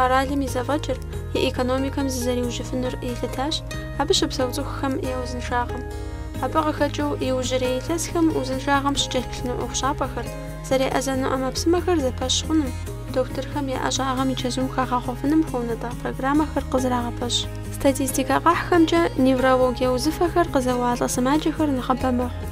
къэралым и зэфӏэкӏыр, и экономикэм зызэриужьыфынур елъытащ абы щыпсэу цӏыхухэм я узыншагъэм. Абы къыхэкӏыу иужьрей илъэсхэм узыншагъэм щыкӏэлъыплъыну ӏуэхущӏапӏэхэр, Зэреӏэзэну ӏэмэпсымэхэр зэпэщ хъуным, дохутырхэм я ӏэщӏагъэм и чэзум хагъэхъуэфыным хуэунэтӏа программэхэр къызэрагъэпэщ. Статистикэ къахьхэмкӏэ, неврологие узыфэхэр къызэуалӏэ сымаджэхэр нэхъыбэ мэхъу.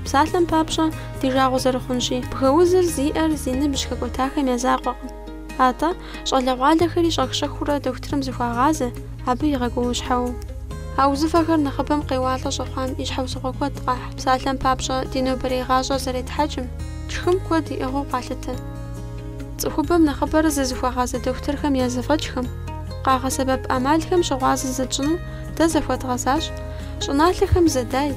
Псалъэм папщӏэ, ди жагъуэ зэрыхъунщи, бгыузыр зиӏэр зи ныбжь хэкӏуэтахэм я закъуэкъым. Атӏэ, щӏалэгъуалэхэри щӏэх-щӏэхыурэ дохутырым зыхуагъазэ, абы игъэгуауэщхьэуэу. А узыфэхэр нэхъыбэм къеуалӏэ щӏэхъуам и щхьэусыгъуэ куэд къахь, псалъэм папщӏэ, ди нобэрей гъащӏэр зэретхьэкӏым, тшхым куэд иӏыгъыу къалъытэ. Цӏыхубэм нэхъыбэрэ зызыхуагъазэ дохутырхэм я зэфӏэкӏхэм, къагъэсэбэп ӏэмалхэм щыгъуазэ зытщӏыну дэ захуэдгъэзащ, щӏыналъэхэм зэдай,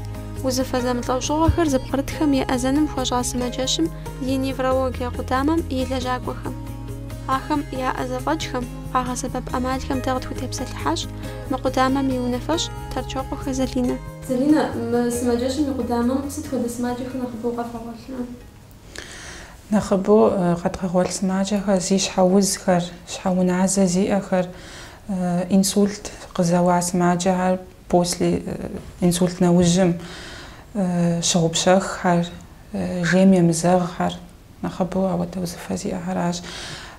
узыфэ зэмылӏэужьыгъуэхэр зыпкърытхэм еӏэзэным хуэщӏа сымаджэщым и неврологие къудамэм и лэжьакӏуэхэм. Ахэм яӏэ зэфӏэкӏхэм, къагъэсэбэп ӏэмалхэм дэ къытхутепсэлъыхьащ мы къудамэм и унафэщӏ Тэрчокъуэхэ Залинэ. Залинэ, мы сымаджэщым и къудамэм сыт хуэдэ сымаджэхэр нэхъыбэу къэвгъэгъуэлърэ? Нэхъыбэу къэдгъэгъуэлъ сымаджэхэр зи щхьэузхэр, щхьэуназэ зиӏэхэр, инсульт къызэуа сымаджэхэр, после инсульт нэужьым щыгъупщэххэр, жейм емызэгъхэр. Нэхъыбэу ауэдэ узыфэ зиӏэхэращ.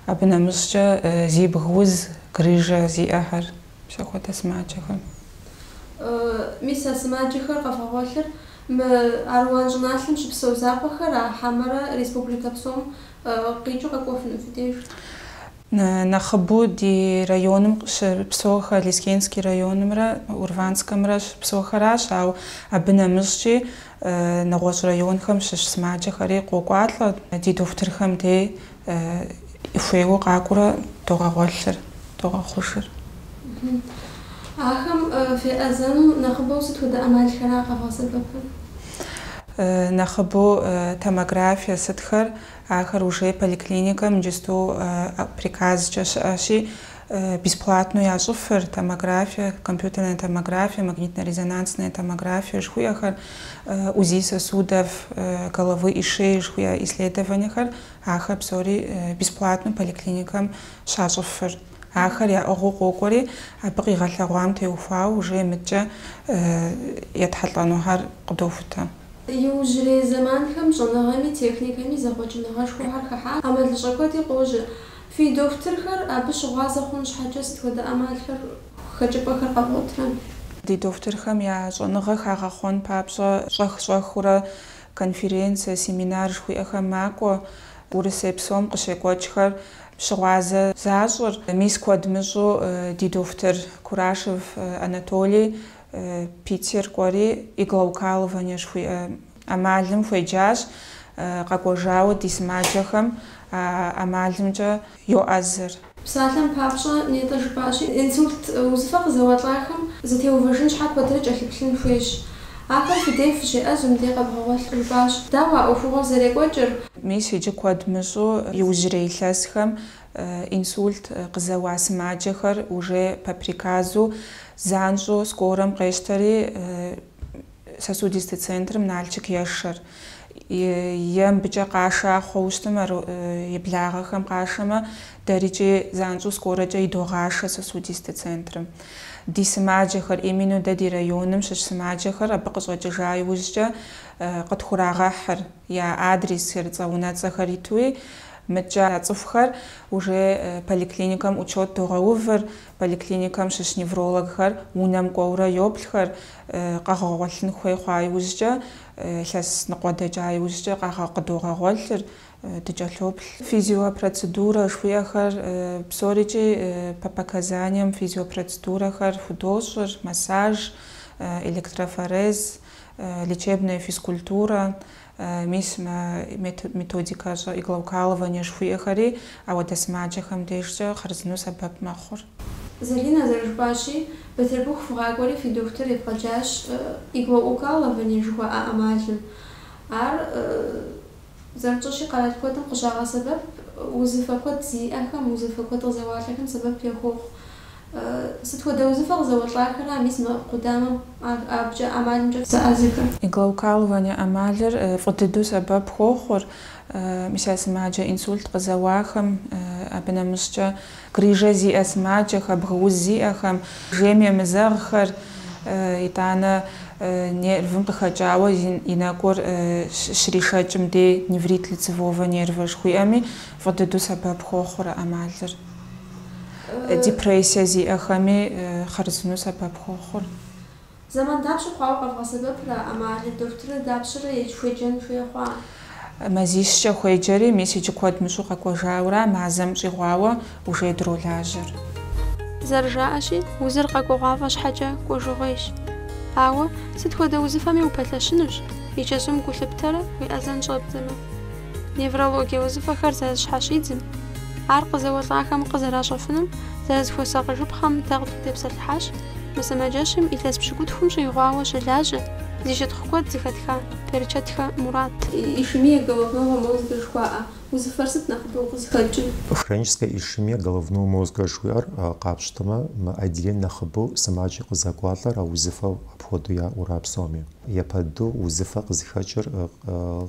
Абы нэмыщӏкӏэ зи бг уз, грыжэ зиӏэхэр, мис ахуэдэ сымаджэхэм. Мис а сымаджэхэр къэвгъэгъуэлъыр мы Аруан щӏыналъэм щыпсэу закъуэхэра хьэмэрэ республикэ псом къикӏыу къэкӏуэфыну фи деж. Нэхъыбэу ди районым щыпсэухэр Лескенский районымрэ Урванскэмрэ щыпсэухэращ, ауэ абы нэмыщӏкӏи Нэгъуэщӏ районхэм щыщ сымаджэхэри къокӏуалӏэ ди дохутырхэм дей хуейуэ къакӏуэурэ догъэгъуэлъыр, догъэхъужыр. Ахэм феӏэзэну нэхъыбэу сыт хуэдэ ӏэмалхэра къэвгъэсэбэпыр? Нэхъыбэу томографие сытхэр, ахэр уже поликлиникэм иджысту приказкӏэ щыӏэщи, Бесплатнэу ящӏыфыр, томографие, компьютерная томография, магнитно-резонансная томография жыхуиӏэхэр, УЗИ сосудов головы и шеи жыхуиӏэ исследованиехэр, ахэр псори бесплатнэу поликлиникэм щащӏыфыр. Ахэр яӏыгъыу къокӏуэри, абы къигъэлъэгъуам теухуауэ уже мыдкӏэ етхьэлӏэнухэр къыдохутэ. Иужьрей зэманхэм щӏэныгъэми техникэми зэхъуэкӏыныгъэшхуэхэр хыхьат, ӏэмалыщӏэ куэди къожьэ. Фи дохутырхэр абы щыгъуазэ хъун щхьэкӏэ сыт хуэдэ ӏэмалхэр, хэкӏыпӏэхэр къэвгъуэтрэ? Ди дохутырхэм я щӏэныгъэ хагъэхъуэн папщӏэ щӏэх-щӏэхыурэ конференцэ, семинар жыхуиӏэхэм макӏуэ. Урысей псом къыщекӏуэкӏхэр щыгъуазэ защӏыр, мис куэд мыщӏу ди дохутыр Курашев Анатолий Питер кӏуэри иглоукалывание жыхуиӏэ ӏэмалым хуеджащ, къэкӏуэжауэ ди сымаджэхэм а ӏэмалымкӏэ йоӏэзыр. Псалъэм папщӏэ, нетӏэ жыпӏащи, инсульт узыфэ къызэуэлӏахэм зэтеувэжын щхьэ куэдрэ кӏэлъыплъын хуейщ. Ахэр фи дей фыщеӏэзым дей къэбгъэгъуэлъ, жыпӏащ. Дауэ а ӏуэхугъуэр зэрекӏуэкӏыр? Мис иджы куэд мыщӏу иужьрей илъэсхэм Инсульт къызэуа сымаджэхэр уже по приказу занщӏэу скорэм къещтэри сосудистэ центрым Налчык ешэр. Е мыбыкӏэ къаша хъуэу щытым ар и благъэхэм къашэмэ, дэрикӏи занщӏэу скорэкӏэ идогъашэ сосудистэ центрым. Ди сымаджэхэр, именно дэ ди районым щыщ сымаджэхэр абы къыщӏэкӏыжа иужькӏэ къытхурагъэхьыр. я адресхэр, цӏэ-унэцӏэхэр итуи, мыдкӏэ а цӏыхухэр уже поликлиникэм учет догъэувыр, поликлиникэм щыщ неврологхэр унэм кӏуэурэ йоплъхэр, къэгъэгъуэлъын хуей хъуа иужькӏэ, илъэс ныкъуэ дэкӏа иужькӏэ къыдогъэгъуэлъыр, дыкӏэлъоплъ. Физиопроцедурэ жыхуиӏэхэр псорикӏи по показаниям физиопроцедурэхэр худощӏыр, массаж, электрофорез, лечебная физкультурэ, мис мы методикэщӏэ иглоукалывание жыхуиӏэхэри ауэдэ сымаджэхэм дежкӏэ хъарзыну сэбэп мэхъур. Залинэ зэрыжыпӏащи, Бытырбыху фыгъакӏуэри фи дохутыр евгъэджащ иглоукалывание жыхуаӏэ ӏэмалым. Ар, зэрытщӏэщи, къэрал куэдым къыщагъэсэбэп, узыфэ куэд зиӏэхэм, узэфэ куэд къызэуалӏэхэм сэбэп яхуохъу. Сыт хуэдэ узыфэ къызэуэлӏахэра мис мы къудамэм абыкӏэ ӏэмалымкӏэ фызэӏэзыхэр? Иглоукалывание ӏэмалыр фӏы дыдэу сэбэп хуохъур мис а сымаджэ инсульт къызэуахэм, абы нэмыщӏкӏэ грыжэ зиӏэ сымаджэхэ, бгыуз зиӏэхэм, жейм емызэгъхэр, итӏанэ нервым къыхэкӏауэ и нэкӏур щришэкӏым дей, неврит лицевого нерва жыхуиӏэми, фӏы дыдэу сэбэп хуохъур а ӏэмалыр. депрессие зиӏэхэми хъарзынэу сэбэп хуохъур. Зэман дапщэ хъуауэ къэвгъэсэбэпрэ а ӏэмалыр? Дохутырыр дапщэрэ едж хуеджэн хуей хъуа? Мазищкӏэ хуеджэри, мис иджы куэд мыщӏу къэкӏуэжауэра мазэм щӏигъуауэ ужей дролажьэр. Зэрыжаӏэщи, узыр къэкӏуэгъуафӏэ щхьэкӏэ кӏуэжыгъуейщ. Ауэ, сыт хуэдэ узыфэми упэлъэщынущ, и чэзум гу лъыптэрэ уеӏэзэн щӏэбдзэмэ. Неврологие узыфэхэр зэрызэщхьэщидзым, ар къызэуэлӏахэм къызэращӏэфынум зэрызыхуэсакъыжыпхъэм дэ къытхутепсэлъыхьащ, мы сымаджэщым илъэс пщыкӏутхум щӏигъуауэ щылажьэ зи щытхъу куэд зыхэтха Берчэтхэ Мурат. Ишемия головного мозга жыхуаӏэ узыфэр сыт нэхъыбэу къызыхэкӏыр? Хроническая ишемия головного мозга жыхуиӏэр къапщтэмэ, мы отделением нэхъыбэу сымаджэ къызэкӏуалӏэр а узыфэу апхуэдэу яӏэу ара псоми? Япэ дыдэу узыфэ къызыхэкӏыр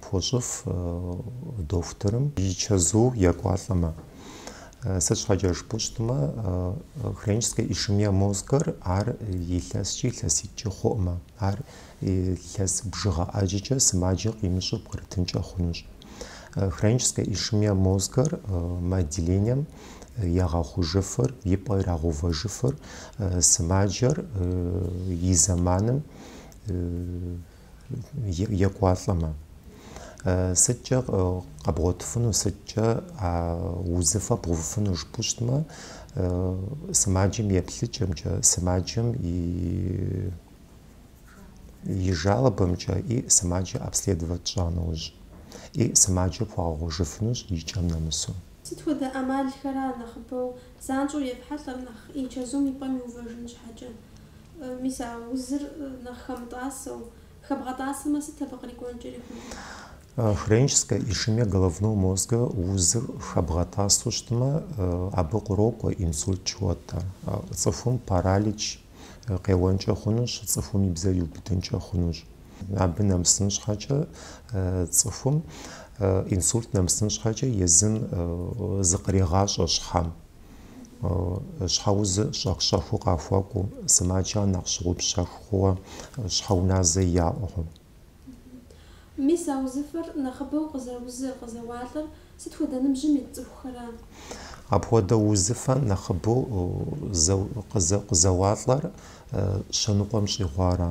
Пхуэщӏыф дохутырым и чэзу екӏуалӏэмэ. Сыт щхьэкӏэ жыпӏэу щытмэ, хроническая ишемия мозгэр ар илъэскӏи илъэситӏкӏи хъуӏымэ, ар илъэс бжыгъэ ӏэджэкӏэ сымаджэ къимыщӏу пкърытынкӏэ хъунущ. Хроническая ишемия мозгэр мы отделением ягъэхъужыфыр, и пӏэ ирагъэувэжыфыр сымаджэр и зэманым екӏуалӏэмэ. Сыткӏэ къэбгъуэтыфыну, сыткӏэ а узыфэ бгъэувыфыну жыпӏэу щытмэ, сымаджэм и еплъыкӏэмкӏэ, сымаджэм и и жалобэмкӏэ и сымаджэ обследовать тщӏа нэужь, и сымаджэ пхуэгъэхъужыфынущ и кӏэм нэмысу. Сыт хуэдэ ӏэмалхэра нэхъыбэу занщӏэу ефхьэлӏэр нэхъ и чэзум и пӏэм иувэжын щхьэкӏэ? Мис а узыр нэхъ хэмытӏасэу. Хэбгъэтӏасэмэ, сыт абы кърикӏуэнкӏэ хъунур? Хроническая ишемия головного мозга, узыр хэбгъэтӏасэу щытмэ, абы кърокӏуэ инсульт жыхуэтӏэр. Цӏыхум паралич къеуэнкӏэ хъунущ, цӏыхум и бзэр иубыдынкӏэ хъунущ. Абы нэмысын щхьэкӏэ цӏыхум инсульт нэмысын щхьэкӏэ езым зыкърегъащӏэ щхьэм. Щхьэузыр щӏэх-щӏэхыу къахуэкӏуэу, сымаджэр нэхъ щыгъупщэх хъууэ, щхьэуназэ яӏэу. Мис а узыфэр нэхъыбэу къызэузы, къызэуалӏэр сыт хуэдэ ныбжьым ит цӏыхухэра? Апхуэдэ узыфэ нэхъыбэу къызэуалӏэр щэ ныкъуэм щӏигъуара.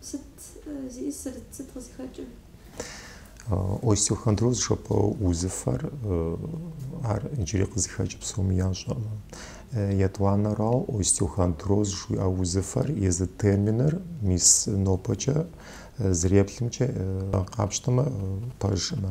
Сыт зиӏысыр, сыт къызыхэкӏыр? Остеохондроз жыпӏэ узыфэр ар иджыри къызыхэкӏ псоми ящӏэӏымэ. Етӏуанэрау остеохондроз жыхуиӏэ узыфэр езы терминыр мис нобэкӏэ зэреплъымкӏэ къапщтэмэ пэжӏымэ.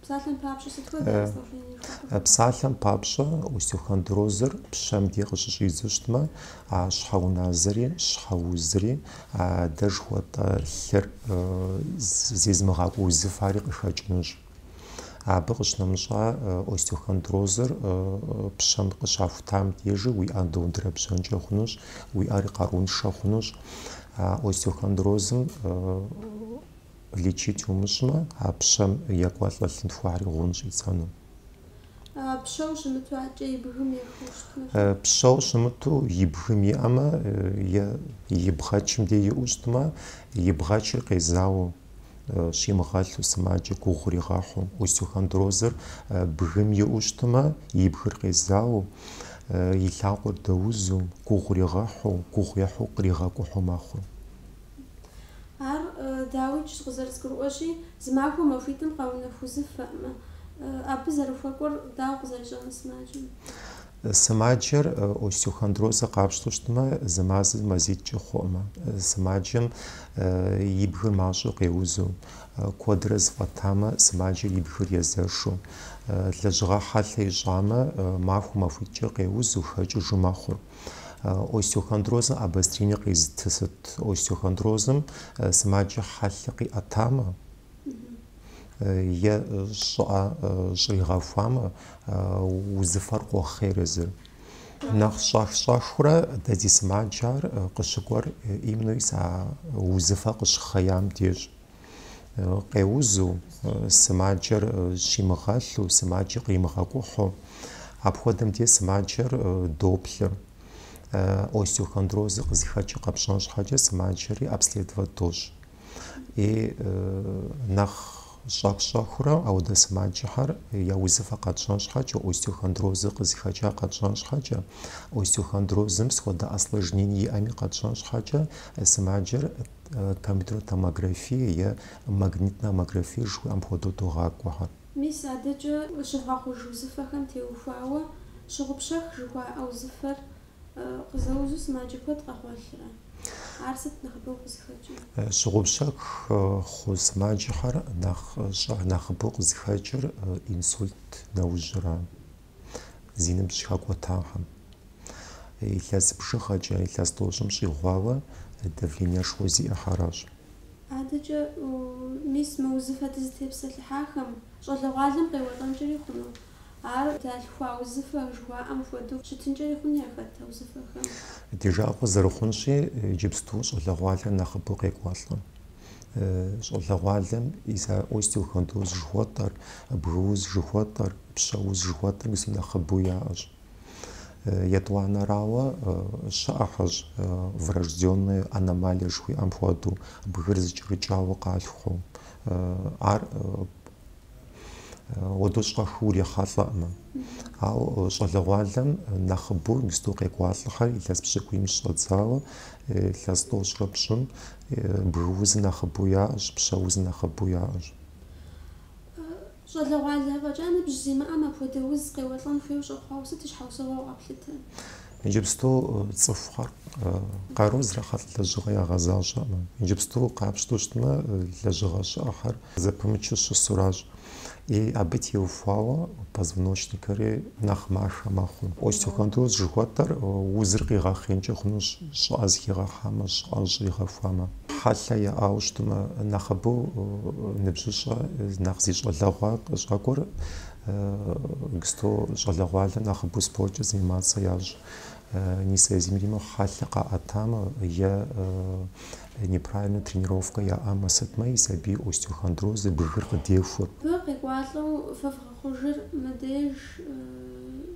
Псалъэм папщӏэ, сыт хуэдэ осложнение хуэхъу? Псалъэм папщӏэ, остеохондрозыр пщэм де къыщыщӏидзэу щытмэ, а щхьэуназэри, щхьэузри, а дэ жыхуэтӏэ лъыр зезмыгъакӏуэ узыфари къыхэкӏынущ. Абы къыщынэмыщӏа, остеохондрозыр пщэм къыщахутам дежи уи ӏэр дэундэрэбжьэнкӏэ хъунущ, уи ӏэр къарууншэ хъунущ. Остеохондрозым Лечить умыщӏмэ, а пщэм екӏуэлӏэ лъынтхуэхэри гъун щӏидзэну. Пщэу щымыту адэкӏэ и бгым ехыу щытмэ? Пщэу щымыту и бгым иӏэмэ е и бгъэчым де иӏэу щытмэ, и бгъэчыр къезауэу, щимыгъэлъу, сымаджэ гугъу иригъэхьу. Остеохондрозыр бгым иӏэу щытмэ, и бгыр къезауэу, и лъакъуэр дэузу, гугъу иригъэхьу, гугъу ехьу къригъэкӏухьу мэхъу. Ар, дауикӏ, къызэрызгурыӏуэщи, зы махуэ махуитӏым къэунэху узыфэӏымэ, абы зэрыхуэкӏуэр дауэ къызэрищӏэныр сымаджэм? Сымаджэр остеохондрозыр къапщтэу щытмэ, зы мазэ мазитӏкӏэ хъуӏымэ, сымаджэм и бгыр мащӏэу къеузу, куэдрэ зэфӏэтамэ, сымаджэр и бгыр езэшу, лэжьыгъэ хьэлъэ ищӏамэ, махуэ махуитӏкӏэ къеузу, хэкӏыжу мэхъур. Остеохондрозым обострение къезытыр сыт? Остеохондрозым сымаджэ хьэлъэ къиӏэтамэ, е щӏыӏэ щӏригъэхуамэ, узыфэр къохъейр езыр. Нэхъ щӏэх-щӏэхыурэ дэ ди сымаджэхэр къыщыкӏуэр именно узыфэр къыщыхъеям деж. къеузу, сымаджэр щимыгъэлъу, сымаджэр къримыгъэкӏухьу, апхуэдэм де сымаджэр доплъы. Остеохондрозыр къызыхэкӏыр къэпщӏэн щхьэкӏэ сымаджэри обследовать дощӏ. И нэхъ щӏэх-щӏэхыурэ ауэ дэ сымаджэхэр я узыфэ къэтщӏэн щхьэкӏэ, остеохондрозыр къызыхэкӏа къэтщӏэн щхьэкӏэ, остеохондрозым сыт хуэдэ осложнение иӏэми къэтщӏэн щхьэкӏэ сымаджэр Томографие е магнитнэ томографие жыхуиӏэм хуэдэу догъакӏуэхэр. Мис адэкӏэ щывгъэхъуж узыфэхэм теухуауэ щыгъупщэх жыхуаӏэ узыфэр къызэузу сымаджэ куэд къэгъуэлърэ? Ар сыт нэхъыбэу къызыхэкӏыр? Щыгъупщэх хъу сымаджэхэр нэхъ щӏэх нэхъыбэу къызыхэкӏыр инсульт нэужьрэ. зи ныбжь хэкӏуэтахэм. Илъэс бжыгъэкӏэ, илъэс тӏощӏым щӏигъуауэ давлениешхуэ зиӏэхэращ. Адэкӏэ, мис, мы узыфэ дызытепсэлъыхьахэм щӏалэгъуалэм къеуэлӏэнкӏэри хъуну? Ар далъхуа узыфэ жыхуаӏэм хуэдэу щытынкӏэри хъуну яхэт а узыфэхэм? Ди жагъуэ зэрыхъунщи, иджыпсту щӏалэгъуалэр нэхъыбэу къекӏуалӏэ. щӏалэгъуалэм и остеохондроз жыхуэтӏэр, бгыуз жыхуэтӏэр, пщэуз жыхуэтӏэр мис нэхъыбэу яӏэщ. Етӏуанэрауэ щыӏэхэщ врожденные аномалии жыхуиӏэм хуэдэу, бгыр зыкӏэрыкӏауэ къалъхуу. Ар Уэдэу щӏэхыу урехьэлӏэӏымэ. Ауэ щӏалэгъуалэм нэхъыбэу мисту къекӏуалӏэхэр илъэс пщыкӏуийм щыщӏэдзауэ, илъэс тӏощӏрэ пщӏым бгыуз нэхъыбэу яӏэщ, пщэуз нэхъыбэу яӏэщ. Щӏалэгъуалэ фӏэкӏа ныбжь зимыӏэм апхуэдэ уз къеуэлӏэн хуейуэ щӏэхъуауэ сыт и щхьэусыгъуэу къэплъытэ? Иджыпсту цӏыхухэр къару зрахьэлӏ лэжьыгъэ ягъэзащӏэӏымэ. Иджыпсту къапщтэу щытмэ, лэжьыгъэ щыӏэхэр зэпымычу щысуращ. И абы теухуауэ позвоночникэри нэхъ махэ мэхъу. Остеохондроз жыхуэтӏэр узыр къигъэхъеинкӏэ хъунущ, щӏыӏэ зыхигъэхьамэ, щӏыӏэ щӏигъэхуамэ. Хьэлъэ яӏауэ щытмэ, нэхъыбэу ныбжьыщӏэ нэхъ зи щӏалэгъуэ къыщӏэкӏуэр Гсто щӏалэгъуалэм нэхъыбэу спорткӏэ заниматься ящӏ, несоизмеримо хьэлъэ къаӏэтамэ е неправильно тренировкэ яӏэмэ сытмэ ис абы остеохондроз бгыр къыдехуэ. Бгы къекӏуалӏэу фэ вгъэхъужыр мыдеж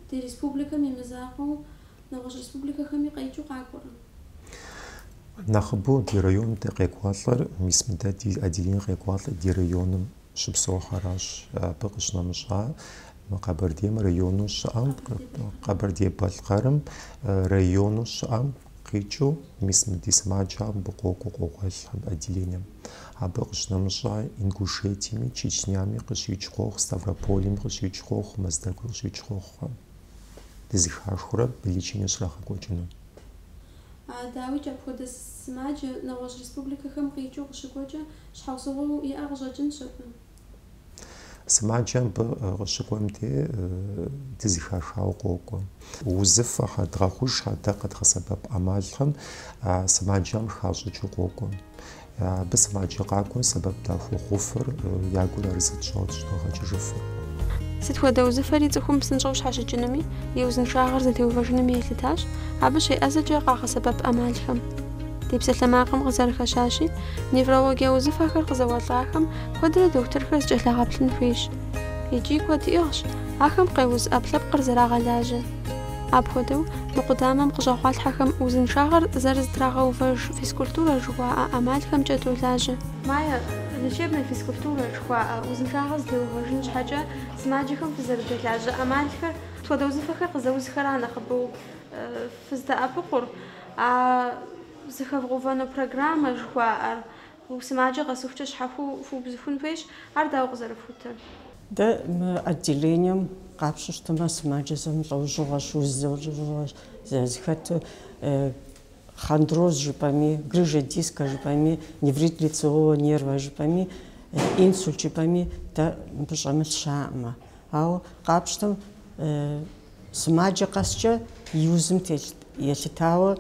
ди республикэм и мызакъуэу нэгъуэщӏ республикэхэми къикӏыу къакӏуэрэ? Нэхъыбэу ди районым дэ къекӏуалӏэр, мис мыдэ ди отделение къекӏуалӏэр ди районым. щыпсэухэращ абы къыщынэмыщӏа мы Къэбэрдейм району щыӏэм, Къэбэрдей-Балъкъэрым району щыӏэм къикӏыу мис мы ди сымаджэхэм абы къокӏуэ, къогъуэлъ отделением. Абы къыщынэмыщӏа Ингушетиями, Чечнями къыщикӏ къохъу, Ставропольми къыщикӏ къохъу, Мэздэгуи къыщикӏ къохъу, дызыхахыурэ лечение щрагъэкӏуэкӏыну. А, дауикӏ, апхуэдэ сымаджэ нэгъуэщӏ республикэхэм къикӏыу къыщыкӏуэкӏэ, щхьэусыгъуэу иӏэ къыщӏэкӏынщ абы. Сымаджэ абы къыщыкӏуэм де дызыхахауэ къокӏуэ. Узыфэхэр, дгъэхъужхэр дэ къэдгъэсэбэп ӏэмалхэм а сымаджэм хащӏыкӏыу къокӏуэ. Абы сымаджэ къакӏуэм сэбэп дахуохъуфыр, я гур арэзы тщӏауэ щӏыдогъэкӏыжыфыр. Сыт хуэдэ узыфэри цӏыхум псынщӏэу щхьэщыкӏынуми, и узыншагъэр зэтеувэжынуми елъытащ, абы щеӏэзэкӏэ къагъэсэбэп ӏэмалхэм. Ди псалъэмакъым къызэрыхэщащи, неврологие узыфэхэр къызэуэлӏахэм куэдрэ дохутырхэр зыкӏэлъагъэплъын хуейщ. Икӏи куэд иӏыгъщ ахэм къеуз ӏэпкълъэпкъыр зэрагъэлажьэ. Апхуэдэу, мы къудамэм къыщӏэгъуалъхьэхэм узыншагъэр зэрызэтрагъэувэж физкультурэ жыхуаӏэ ӏэмалхэмкӏэ долажьэ. Майя, лечебная физкультура жыхуаӏэ узыншагъэр зэтеувэжын щхьэкӏэ сымаджэхэм фызэрыдэлажьэ ӏэмалхэр, сыт хуэдэ узыфэхэр къызэузхэра нэхъыбэу фыздэӏэпыкъур, а зыхэвгъэувэну программэ жыхуаӏэр. Гугъу сымаджэ къэсыхукӏэ щхьэхуэу фыубзыхун хуейщ, ар дауэ къызэрыфхутыр? Дэ мы отделением къапщу щытмэ, сымаджэ зэмылӏэужьыгъуэщ, уз зэмылӏэужьыгъуэщ зыхэту. Хондроз жыпӏэми, грыжа диска жыпӏэми, неврит лицевого нерва жыпӏэми, инсульт жыпӏэми дэ мыбы щӏэмылъ щаӏымэ. Ауэ къапщтэм, Сымаджэ къэскӏэ и узым елъытауэ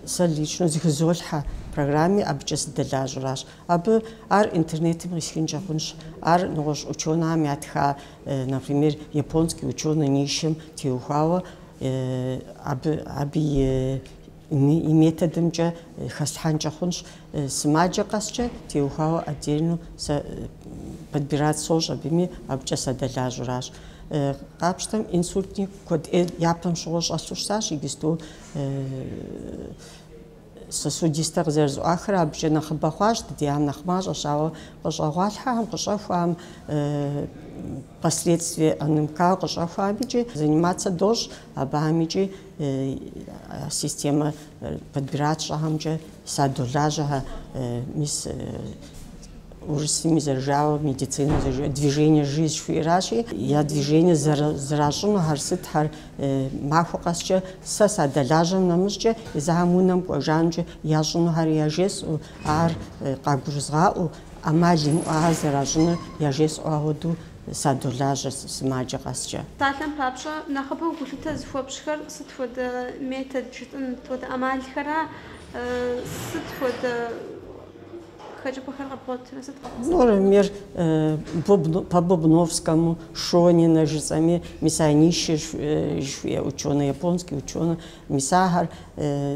сэ личнэу зыхызолъхьэ программи, абыкӏэ сыдэлажьэращ. Абы ар интернетым къисхынкӏэ хъунщ. Ар нэгъуэщӏ ученыхэм ятха, например, японский ученый Нишим теухуауэ абы абы и и методымкӏэ хэслъхьэнкӏэ хъунщ, сымаджэ къэскӏэ теухуауэ отдельно сэ подбирать сощӏ абыми, абыкӏэ садэлажьуращ. Къапщтэм инсультни куэд ӏей япэм щыгъуэ щӏэлъу щытащ, иджысту сосудистэ къызэрызэӏуахрэ абыкӏэ нэхъыбэ хъуащ, дыдиам нэхъ мащӏэщ, ауэ къыщӏэгъуалъхьэхэм, къыщӏэхуахэм, последствие ОНМК къыщӏэхуахэм икӏи заниматься дощӏ абыхэм икӏи Системэ подбирать сщӏыхэмкӏэ садолажьэхэ, мис урысыми зэрыжауэ, медицинэм зэрыжауэ, движение жизнь жыхуиӏэращи, я движение зэращӏынухэр сытхэр, махуэ къэскӏэ сэ садэлажьэм нэмыщӏкӏэ, езыхэм унэм кӏуэжа нэукӏэ ящӏынухэр яжесӏэу, ар къагурызгъаӏэу, ӏэмал имыӏэу ар зэращӏынур яжесӏэу, ахуэдэу садолажьэ сымаджэ къэскӏэ. Псалъэм папщӏэ, нэхъыбэу гулъытэ зыхуэпщӏхэр сыт хуэдэ метод жытӏэн, сыт хуэдэ ӏэмалхэра, сыт хуэдэ хэкӏыпӏэхэр къэбгъуэтурэ сыт къэбгъэсэбэпу? Например, по Бубновскому, Шонина жысӏэми, мис а Ниши жыхуиӏэ учёнэ, японский учёнэ, мис ахэр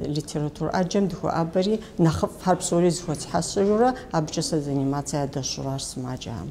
литератур ӏэджэм дыхуэӏэбэри, нэхъыфӏхэр псори зыхуэсхьэсыжурэ, абыкӏэ сэ заниматься ядэсщӏуращ сымаджэхэм.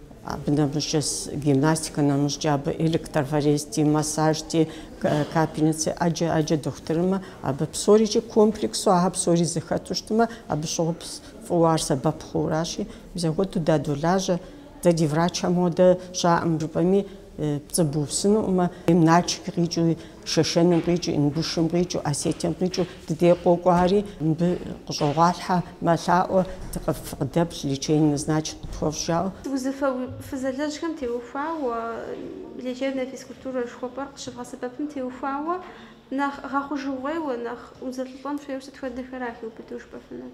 Абы нэмыщӏкӏэ гимнастикэ нэмыщӏкӏэ абы электрофорезти, массажти, капельници, ӏэджэ, ӏэджэ дохутырымэ, абы псорикӏи комплексу ахэр псори зэхэту щытмэ, абы щыгъуи пс- фӏыуэ ар сэбэп хъууэращи, мис апхуэдэу дадолажьэ. Дэ ди врачхэм хуэдэ щаӏым жыпӏэми, пцӏы бупсынуӏымэ, Начик къикӏыу, Шэшэным къикӏыу, Ингушым къикӏыу, Осетием къикӏыу дыдей къокӏуари, мыбы къыщӏогъуалъхьэ мэлъаӏуэ, фыкъыдэплъ, лечение назначить къытхуэфщӏ жауэ. Узыфэ фызэлэжьхэм теухуауэ лечебнэ физкультурэ жыхуэпӏэр къыщывгъэсэбэпым теухуауэ нэхъ гъэхъужыгъуейуэ, нэхъ узэлӏылӏэн хуейуэ сыт хуэдэхэра хиубыдэу жыпӏэфынур?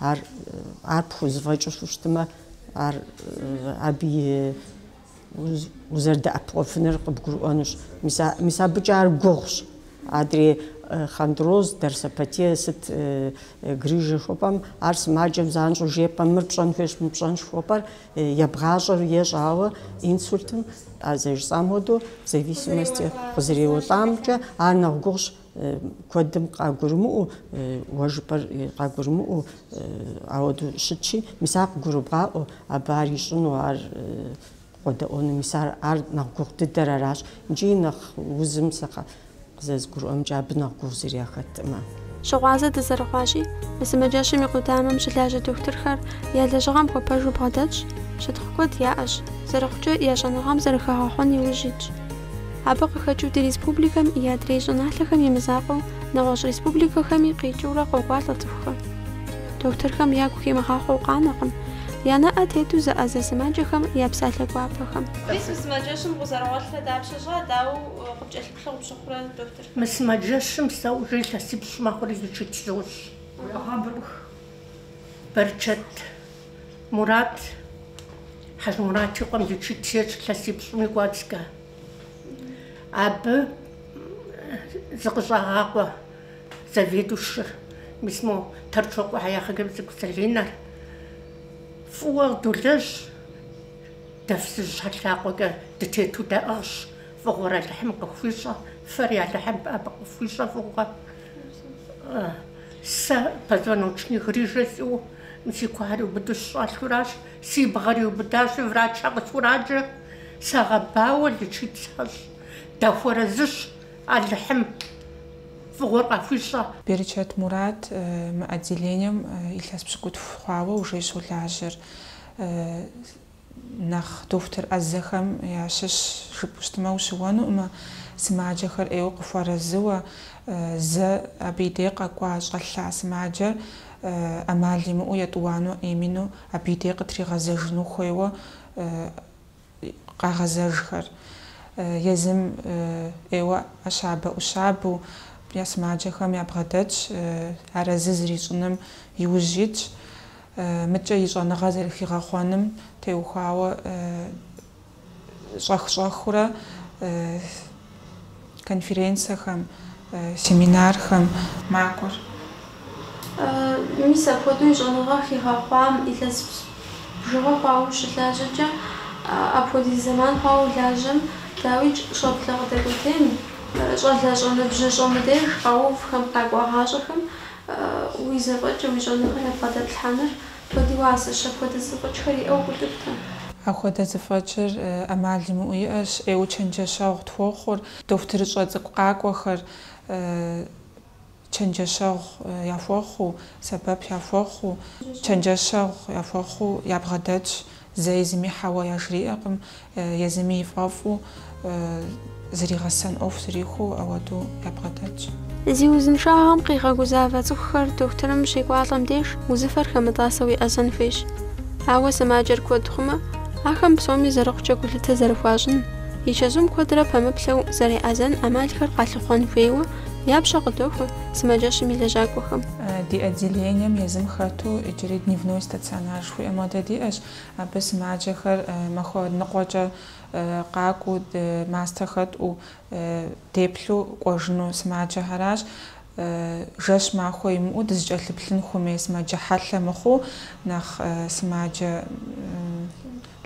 Ар ар пхузэфӏэкӏыу щыщытмэ, ар абы и узэрыдэӏэпыкъуэфыныр къыбгурыӏуэнущ. Мис а мис абыкӏэ ар гугъущ. Адрей хондроз, дорсопатия, сыт грыжэ хуэпӏэм, ар сымаджэм занщӏэу жепӏэм, мыр пщӏэн хуейщ, мы пщӏэнщ хуэпӏэр ебгъащӏэр ещӏ, ауэ инсультым, а зэрыжысӏам хуэдэу, в зависимости къызэреуэлӏамкӏэ, ар нэхъ гугъущ, куэдым къагурымыӏуэу, уэ жыпӏэр къагурымыӏуэу, ауэдэу щытщи, мис ар къыгурыбгъаӏуэу, абы ар ищӏыну, ар къуэдэӏуэну, мис ар нэхъ гугъу дыдэр аращ, икӏи нэхъ узым сэ къызэзгурыӏуэмкӏэ абы нэхъ гугъу зыри яхэтӏымэ. Щыгъуазэ дызэрыхъуащи, мы сымаджэщым и къудамэм щылажьэ дохутырхэр я лэжьыгъэм хуэпэжу бгъэдэтщ, щытхъу куэд яӏэщ, зэрыхъукӏэ, я щӏэныгъэм зэрыхагъэхъуэн и ужь итщ. Абы къыхэкӏыу ди республикэм и адрей щӏыналъэхэм и мызакъуэу нэгъуэщӏ республикэхэми къикӏыурэ къокӏуалӏэ цӏыхухэр. Дохутырхэм ягу химыгъахъуэу къанэкъым я нэӏэ тету зэӏэзэ сымаджэхэм я псалъэ гуапэхэм. Мис мы сымаджэщым укъызэрыгъуэлърэ дапщэ щӏа, дауэ къыпкӏэлъыплъу къыпщыхъурэ дохутыр? Мы сымаджэщым сэ уже илъэсипщӏ мэхъури лечить сощӏ. Бэрчэт Мурат Хьэжмурат и къуэм лечить ещӏ илъэсипщӏым и кӏуэцӏкӏэ. Абы зыкъыщӏагъакъуэ заведующыр, мис мо Торчокъуэхьэ я хъыгэбз цӏыкӏу Залинэр, фӏыуэ долэжь, дэ фызыжьхьэ лъакъуэкӏэ дытету даӏыгъщ, фӏыгъуэр Алыхьым къыхуищӏэ, фэри Алыхьым абы къыфхуищӏэ фӏыгъуэ. Сэ позвоночник грыжэ сиӏэу си куэр иубыду сыщӏэлъу аращ, си бгъэр иубыдащи, врачхьэ къысхураджэ, сагъэбауэ, лечить сащӏ. Дахуэрэзыщ, Алыхьым фӏыгъуэр къахуищӏэ. Бэрчэт Мурат мы отделением илъэс пщыкӏутху хъуауэ уже щолажьэр. Нэхъ дохутыр ӏэзэхэм ящыщ жыпӏэу щытмэ ущыуэнукъымэ, сымаджэхэр ӏейуэ къыхуэрэзыуэ, зэ абы и дей къэкӏуа щӏэлъа сымаджэр ӏэмал имыӏэу етӏуанэу именно абы и дей къытригъэзэжыну хуейуэ къагъэзэжхэр, езым ӏейуэ ӏэщабэ-ӏущабэу я сымаджэхэм ябгъэдэтщ, арэзы зэрищӏыным и ужь итщ. Мыдкӏэ и щӏэныгъэ зэрыхигъэхъуэным теухуауэ щӏэх-щӏэхыурэ конференцэхэм, семинархэм макӏуэр. Мис апхуэдэу и щӏэныгъэ хигъэхъуам илъэс бжыгъэ хъуауэ ущылажьэкӏэ, апхуэдиз зэман хъуауэ улажьэм, дауикӏ, щӏэблэ къыдэкӏуэтейм, щӏалэщӏэ ныбжьыщӏэ мыдеж къэувхэм, къэкӏуагъащӏэхэм Уи зэфӏэкӏэ уи щӏэныгъэр ябгъэдэплъхьэныр куэд и уасэщ, апхуэдэ зэфӏэкӏхэр иӏэу къэплъытэрэ. Апхуэдэ зэфӏэкӏыр ӏэмал имыӏэу иӏэщ, ӏейуэ чэнджэщэгъу тхуохъур, дохутырыщӏэ цӏыкӏу къакӏуэхэр чэнджэщэгъу яхуэхъуу, сэбэп яхуэхъуу, чэнджэщэгъу яхуэхъуу ябгъэдэтщ, Зэи зыми хьэуэ яжриӏэкъым, езыми и фӏэфӏу зригъэсэн ӏуэху зрихуэу ауэдэу ябгъэдэтщ. Зи узыншагъэм къигъэгузавэ цӏыхухэр дохутырым щекӏуалӏэм деж узыфэр хэмытӏасэу еӏэзэн хуейщ. Ауэ сымаджэр куэд хъумэ, ахэм псоми зэрыхъукӏэ гулъытэ зэрыхуащӏын, и чэзум куэдрэ пэмыплъэу зэреӏэзэн ӏэмалхэр къалъыхъуэн хуейуэ я пщэ къыдохуэ сымаджэщым и лэжьакӏуэхэм. Ди отделением езым хэту иджыри дневной стационар Хуиӏэ модэ диӏэщ, абы сымаджэхэр махуэ ныкъуэкӏэ къакӏуэу, мастэ хэтӏу, деплъу кӏуэжыну сымаджэхэращ. Жэщ махуэ имыӏэу дызыкӏэлъыплъын хуэмей сымаджэ хьэлъэ мыхъуу, нэхъ сымаджэ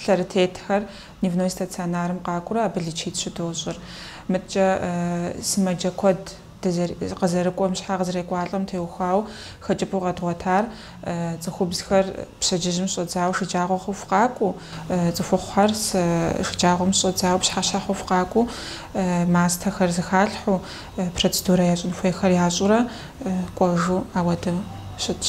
лъэрытетхэр дневной стационарым къакӏуэурэ абы лечить щыдощӏыр. Мыдэкӏэ сымаджэ куэд Дыдэ къызэрыкӏуэм, щхьэ къызэрекӏуалӏэм теухуауэ хэкӏыпӏэу къэдгъуэтар цӏыхубзхэр пщэдджыжьым щӏэдзауэ шыджагъуэ хъуху къакӏуэу, цӏыхухъухэр шыджагъуэм щӏэдзауэ пщыхьэщхьэ хъуху къакӏуэу, мастэхэр зыхалъхьэу, процедурэ ящӏын хуейхэр ящӏурэ кӏуэжу ауэдэу щытщ.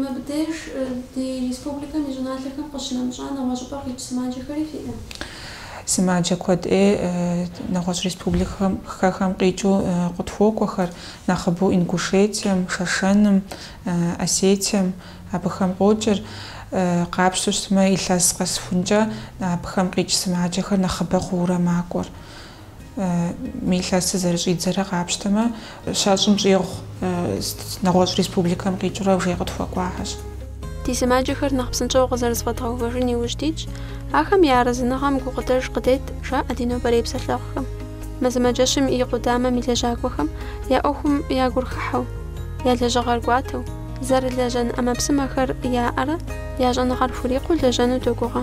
Мыбдеж ди республикэм и щӏыналъэхэм къыщынэмыщӏа нэгъуэщӏыпӏэ къикӏ сымаджэхэри фиӏэ? Сымаджэ куэд ӏей нэгъуэщӏ республикэхэм къикӏыу къытхуокӏуэхэр, нэхъыбэу Ингушетием, Шэшэным, Осетием абыхэм къокӏыр. Къапщтэу щытмэ, илъэс къэсыхункӏэ абыхэм къикӏ сымаджэхэр нэхъыбэ хъуурэ макӏуэр. Мы илъэсыр зэрыщӏидзэрэ къапщтэмэ, щэщӏым щӏигъу нэгъуэщӏ республикэм къикӏыурэ иджы къытхуэкӏуахэщ. Ди сымаджэхэр нэхъ псынщӏэу къызэрызэфӏэдгъэувэжын иужь дитщ, ахэм я арэзыныгъэм гукъыдэж къыдет, жаӏэ ди нобэрей псэлъэгъухэм. Мы сымаджэщым и къудамэм и лэжьакӏуэхэм я ӏуэхум я гур хыхьэу, я лэжьыгъэр кӏуатэу, зэрылэжьэн ӏэмэпсымэхэр яӏэрэ я щӏэныгъэр хурикъуу лэжьэну догугъэ.